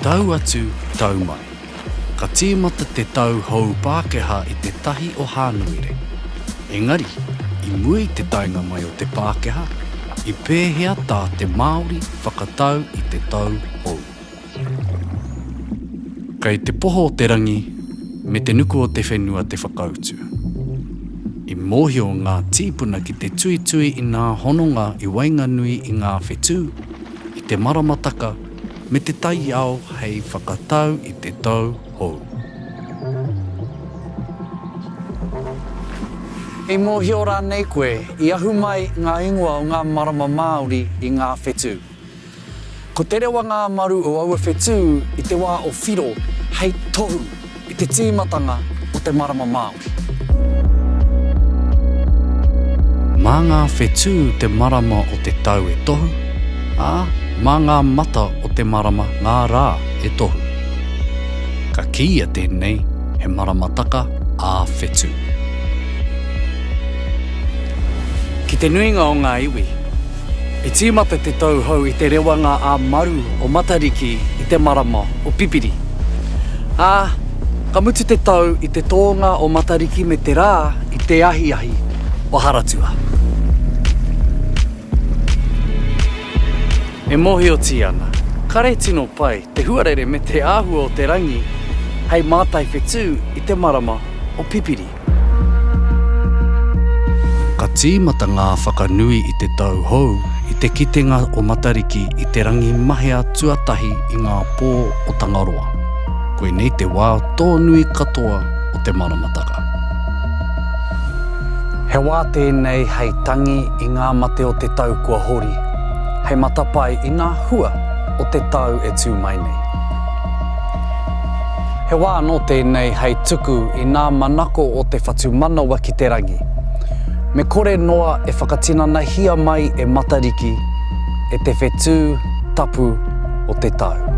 Tau atu, tau mai. Ka tīmata te tau hou Pākehā i te tahi o Hānuere. Engari, i mua i te taenga mai o te Pākehā, i pēhea tā te Māori whakatau i te tau hou? Kei te poho o te rangi me te nuku o te whenua te whakautu. I mōhio ngā tīpuna ki te tuitui i ngā hononga i waenganui i ngā whetū, i te maramataka me te taiao hei whakatau i te tau hou. I mōhio rānei koe i ahu mai ngā ingoa o ngā marama Māori i ngā whetū? Ko te rewa ngā maru o aua whetū i te wā o Whiro hei tohu i te tīmatanga o te marama Māori. Mā ngā whetū te marama o te tau e tohu, ā, mā ngā mata o te marama ngā rā e tohu. Ka kīia tēnei he maramataka ā-whetū. Ki te nuinga o ngā iwi. I tīmata te tauhou i te rewanga a Maru o Matariki i te marama o Pipiri. Ā, ka mutu te tau i te tōnga o Matariki me te rā i te ahiahi o Haratua. E mōhiotia ana, kare tino pai te huarere me te āhua o te rangi hei mātai whetū i te marama o Pipiri. Ka tīmata ngā whakanui i te tau hou i te kitenga o Matariki i te rangi mahea tuatahi i ngā pō o Tangaroa. Koinei te wā tōnui katoa o te maramataka. He wā tēnei hei tangi i ngā mate o te tau kua hori, hei matapae i ngā hua o te tau e tū mai nei. He wā anō tēnei hei tuku i ngā manako o te whatumanawa ki te rangi. Me kore noa e whakatinanahia mai e Matariki e te whetū tapu o te tau.